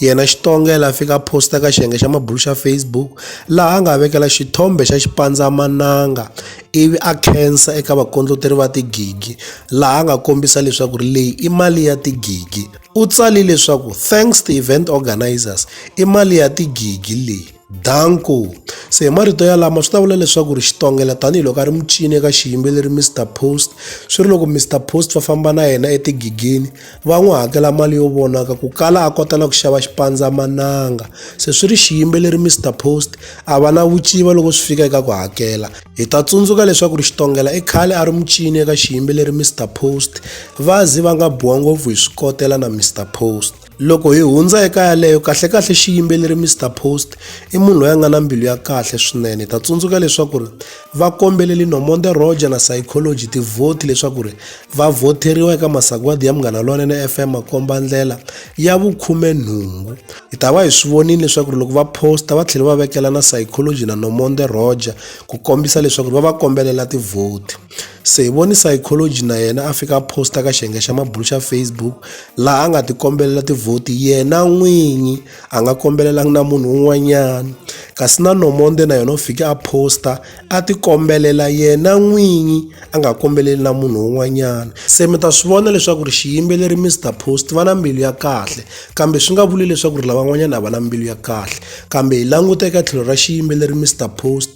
Yena Xitonga yala fika a posta ka xiyenge xa mabulu xa Facebook laha a nga vekela xithombe xa xipandzamananga ivi a khensa eka vakondloteri va tigigi laha a nga kombisa leswaku ri leyi i mali ya tigigi u tsali leswaku thanks to event organizers i mali ya tigigi leyi Danko. Se hi marito yalama swi ta vula leswaku ri xitongela tanihiloko a ri mucini eka xiyimbeleri Mr Post swi ri loko Mr Post va famba na yena etigigini va n'wi hakela mali yo vonaka ku kala a kota na ku xava xipandzamananga se swi ri xiyimbeleri Mr Post a va na vuciva loko swi fika eka ku hakela hi ta tsundzuka leswaku ri xitongela i khale a ri mucini eka xiyimbeleri Mr Post va zi va nga biwa ngopfu hi swikotela na Mr Post Loko hi hundza eka yaleyo kahlekahle xiyimbeleri Mr Post i munhu loyi a nga na mbilu ya kahle swinene. Hi ta tsundzuka leswaku ri va kombeleli Nomonde Roger na Psychology tivhoti leswaku ri va vhoteriwa eka masagwadi ya Munghana Lonene FM makomba ndlela ya vukhume nhungu. Hi ta va hi swi vonile leswaku ri loko va posta va tlhela va vekela na Psychology na Nomonde Roger ku kombisa leswaku ri va va kombelela tivhoti. Se hi voni psychology na yena a fika a posta ka xiyenge xa mabulu xa Facebook laha a nga ti kombelela tivhoti yena n'winyi a nga kombelelanga na munhu un'wanyana kasi na Nomonde na yena u fike a posta a ti kombelela yena n'winyi a nga kombeleli na munhu un'wanyana se mi ta swi vona leswaku ri xiyimbeleri Mr Post va na mbilu ya kahle kambe swi nga vuli leswaku ri lavan'wanyana a va na mbilu ya kahle kambe hi languta eka tlhelo ra xiyimbeleri Mr Post